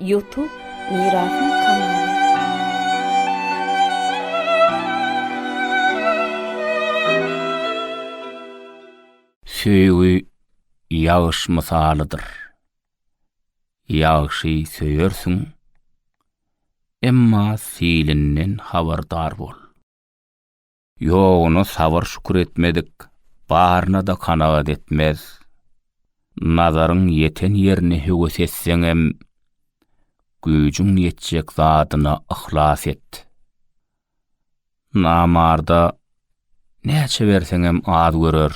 Ýutub Mirasyň kanaly. Söýgi ýagyş mysalydyr. Ýagşy söýersiň, emma silinden habardar bol. Ýoguna sabyr-şükür etmedik, baryna-da kanagat etmez. Nazaryň ýeten ýerine höwes etseňem, güýjüň ýetjek zadyna yhlas et. Namarda näçe berseňem az görer.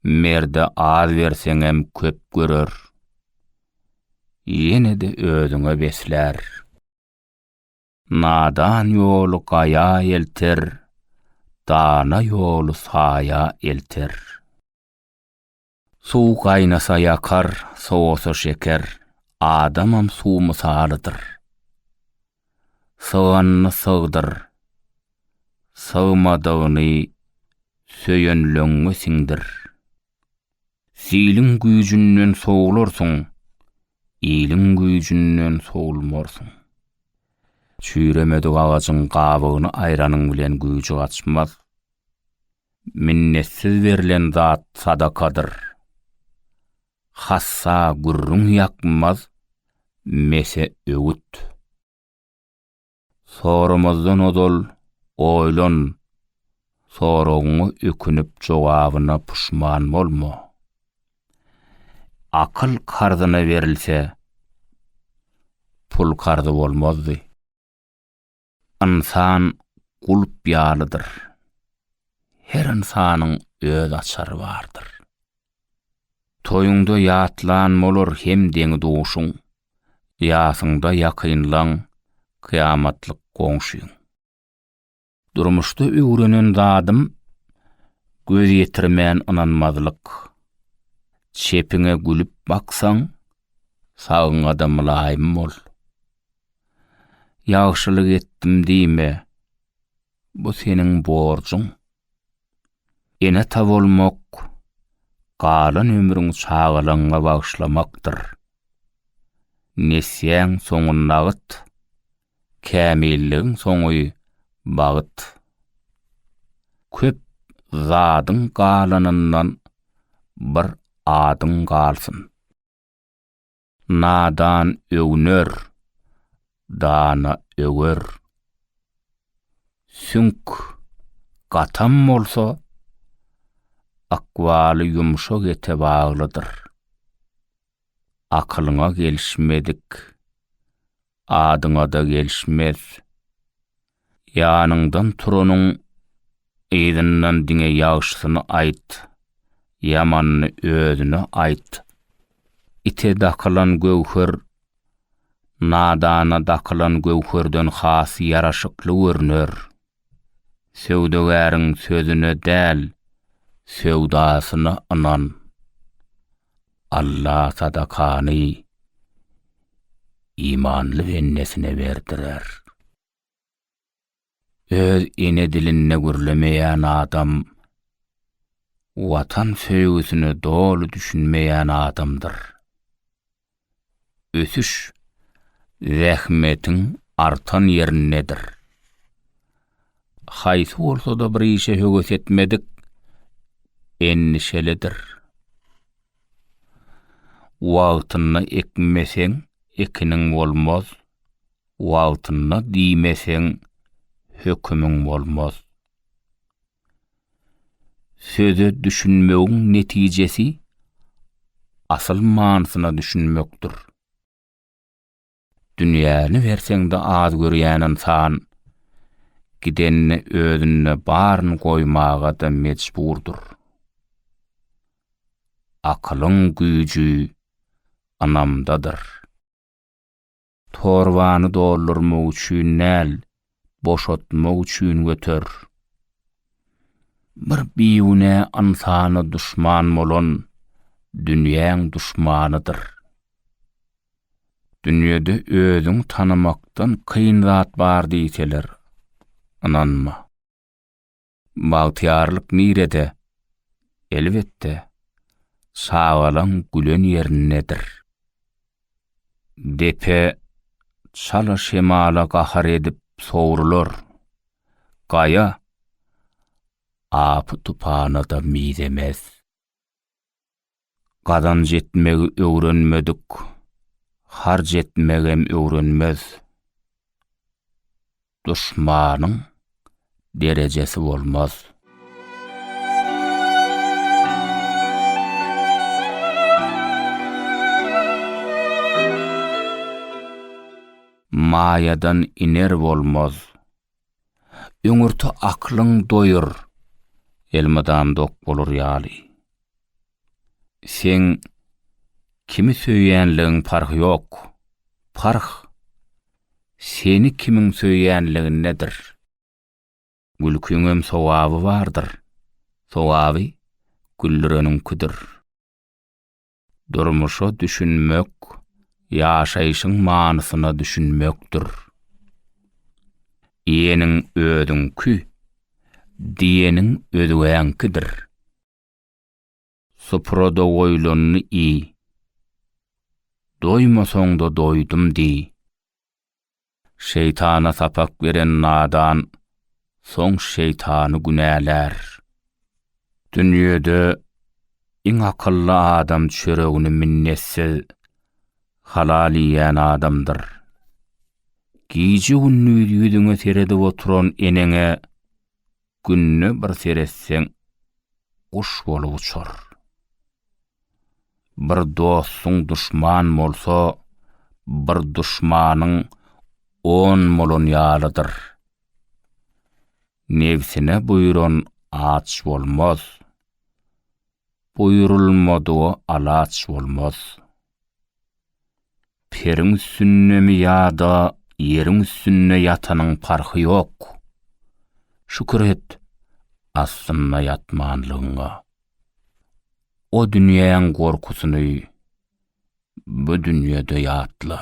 Merde az berseňem köp görer. Ýene-de özüňe beslär. Nadan ýoly gaýa elter, dana ýoly saýa elter. Suw gaýnasa ýakar, sowasa şeker, adamam suw mysalydyr. Syganyny sygdyr, sygmadygyny söýenleňňe siňdir. Siliň güýjünden sowularsyň, iliň güýjünden sowulmarsyň. Çüýremedik agajyň gabygyny aýranyň bilen güýji gaçmaz. Minnetsiz berlen zat sadakadyr. Hassa gürrüň ýakmaz, mese öwüt. Soramazdan ozal oýlan, soragyňa ökünip jogabyna puşman bolma. Akyl karzyna berilse, pul karzy bolmazdy. Ynsan gulp ýalydyr. Her ynsanyň öz açary bardyr. Toýuňda ýatlan bolar hem deňi-duşuň, ýasyňda ýakynlaň, kyýamatlyk goňşyň. Durmuşda öwrenen zadym, göz ýetirmän ynanmazlyk. Çepiňe gülüp baksaň, sagyňa-da mylaýym bol. Ýagşylyk etdim diýme, bu seniň borjuň. Ene-ata bolmak, galan ömrüňi çagalaryňa bagyşlamakdyr. Nesýäň soňy nagyt, kämilligiň soňy bagt. Köp zadyň galanyndan bir adyň galsyn. Nadan öwner, dana öwer. Süňk gatam bolsa, ykbaly ýumşak ete baglydyr. Akylyňa gelişmedik, adyňa-da gelişmez. Ýanyňdan turanyň yzyndan diňe ýagşysyny aýt, ýamanyny özüne aýt. Ite dakylan göwher nadana dakylan göwherden has ýaraşykly görner. Söwdagäriň sözüne däl, söwdasyna ynan. Allah sadakany imanly bendesine berdirer. Öz ene dilinde gürlemeýän adam Watan söýgüsine doly düşünmeýän adamdyr. ösüş zähmetiň artan ýerindedir. Haýsy bolsa-da bir işe höwes etmedik endişelidir. Wagtynda ekmeseň, ekiniň bolmaz, wagtynda diýmeseň, hökümiň bolmaz. Söze düşünmegiň netijesi asyl manysyna düşünmekdir. Dünýäni berseňde az görýän ynsan, gidenini özünde baryny goýmaga-da mejburdyr. Akylyň güýji ynamdadyr. Torbany doldurmak üçin däl, boşatmak üçin göter. Bir bigünä ynsana duşman bolan dünýäň duşmanydyr. Dünýede özüňi tanamakdan kyn zat bar diýseler, ynanma. Bagtyýarlyk nirede? Elbetde, çagalaň gülen ýerindedir. Depe çala şemala gahar edip sowrular, gaýa apy-tupana-da mizemez. Gazanç etmegi öwrenmedik, harç etmegem öwrenmez. Duşmanyň derejesi bolmaz. Maýadan iner bolmaz, Öňürti aklyň doýur, elmydam dok bolar ýaly. Seň kimi söýýänligiň parhy ýok, parh seni kimiň söýýänligindedir. Gülkiňem sogaby bardyr, sogaby güldüreniňkidir. Durmuşa düşünmek, ýaşaýşyň manysyna düşünmekdir. Iýeniň özüňki, diýeniň özgäňkidir. Suprada goýlanyny iý. Doýmasaň-da doýdum diý. Şeýtana sapak beren nadan soň şeýtany günälär. Dünýede iň akylly adam çöregini minnetsiz halal iýen adamdyr. Gije-gündiz ýüzüňe seredip oturan eneňe Günde bir seretseň guş bolup uçar. Bir dostuň duşman bolsa, bir duşmanyň on bolan ýalydyr. Nebsine buýran aç bolmaz. Buýrulmadyga alaç bolmaz. Periň üstündemi ýa-da ýeriň üstünde ýatanyň parhy ýok. Şükür et, astynda ýatmanlygyňa. O dünýäň gorkusyny bu dünýede ýatla.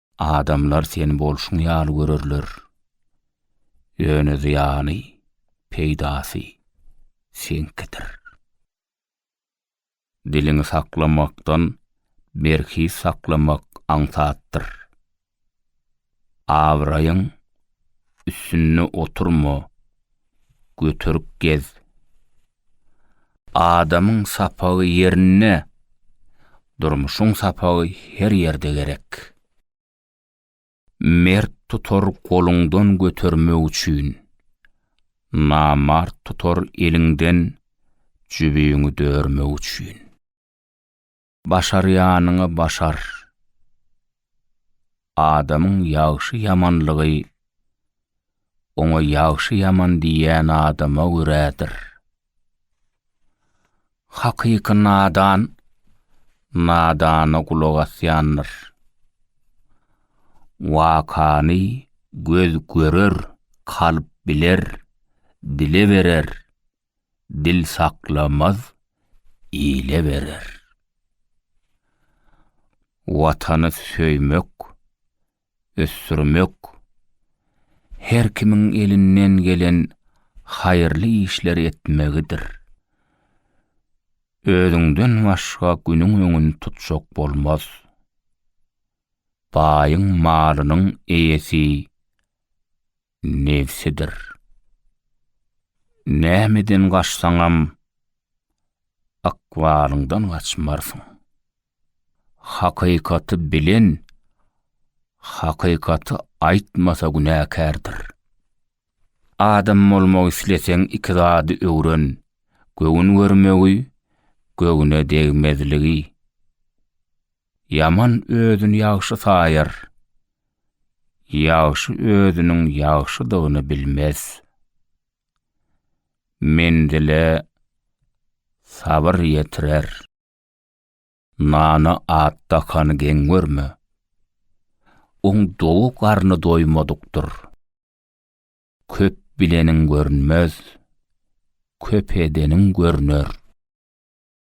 Adamlar seni bolşuň ýaly görerler. Ýöne zyýany, peýdasy seňkidir. Diliňi saklamakdan berhiz saklamak aňsatdyr. Abraýyň üstünde oturma, göterik gez. Adamyň sapagy ýerinde, durmuşyň sapagy her ýerde gerek. Mert tutar goluňdan götermek üçin, namart tutar eliňden jübüňi dörmek üçin. Başarýanyňy başar. Adamyň ýagşy-ýamanlygy oňa ýagşy-ýaman diýýän adama görädir. Hakyky nadan nadana gulak asýandyr. Wakany göz görer, kalp biler, dile berer. dil saklamaz, ile berer. Watany söýmek, ösdürmek, her kimiň elinden gelen haýyrly işleri etmegidir. Özüňden başga günüň öňüni tutjak bolmaz. Baýyň malynyň eýesi. nebsidir. Nämeden gaçsaňam, ykbalyňdan gaçmarsyň. Hakykaty bilen hakykaty aýtmasa günäkärdir. Adam bolmak isleseň iki zady öwren, göwün görmegi, göwne degmezligi. Ýaman özüni ýagşy saýar. Ýagşy özüniň ýagşydygyny bilmez. Menzile sabyr ýetirer. Nana at dakany geň görme. Oň dowy garny doýmadykdyr. Köp bileniň görünmez, köp edeniň görner.